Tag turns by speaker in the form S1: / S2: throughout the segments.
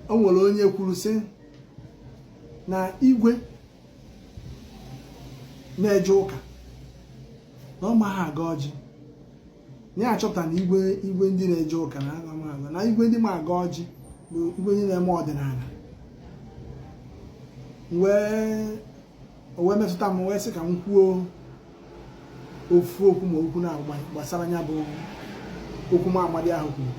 S1: o nwere onye kwuru sị na igwe na-eje ụka na ọ maghị agọ ọjị ya achọpụta na igwe ndị na-eje ụka na amaghị agọ na igwe ndị ma agọ ọjị bụ igwe ndị na-eme ọdịnala wee o wee metụta m wee sị ka m kwuo ofu okwu ma okwu na gbasara ya bụ okwu nwa amadi ahụ kwuru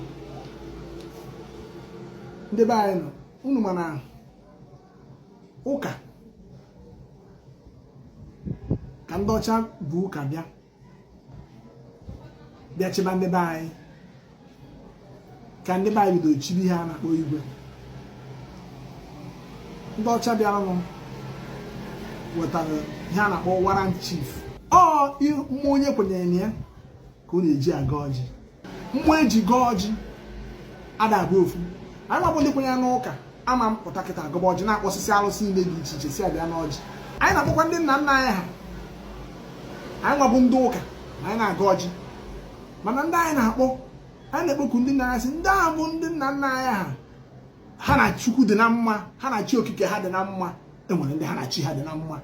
S1: ndị be anyị unu ma na ụka ka ndị ọcha bu ụka bịa bịa chịba ndị be anyị ka ndị be anyị bidoro chibe ihe a na-akpọ igwe ndị ọcha bịaranụ wetara ihe a na-akpọ warrant chief ọ mmụọ onye kwenyere na ya ka ọ na-eji agọ ọjị mmụọ eji gọọ ọjị ada abụ ofu anyị nwa bụ ndị kwenyere n'ụka ama apụta kịta gọba ọjị na-akpọsịsị alụsị niile dị iche iche sị bịa n'ọjị anyị na-akpọkwa ndị nna nna anyị ha anyị nwa bụ ndị ụka na anyị na-agọ ọjị mana ndị anyị na-akpọ anyị na-ekpoku ndị nna anyị sị ndị ahụ bụ ndị nna nna anyị ha ha na chukwu dị na mma ha na chi okike ha dị na mma e nwere ndị ha na chi ha dị na mma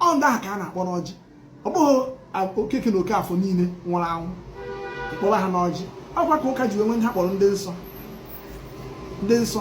S1: ọ ndị ahụ ka a na-akpọ n'ọjị ọ bụghị okeke na okafọ niile nwụrụ anwụ a kpọrọ ha n'ọjị ọkwa ka ụka ji wee nwee ihe a kpọrọ ndị nsọ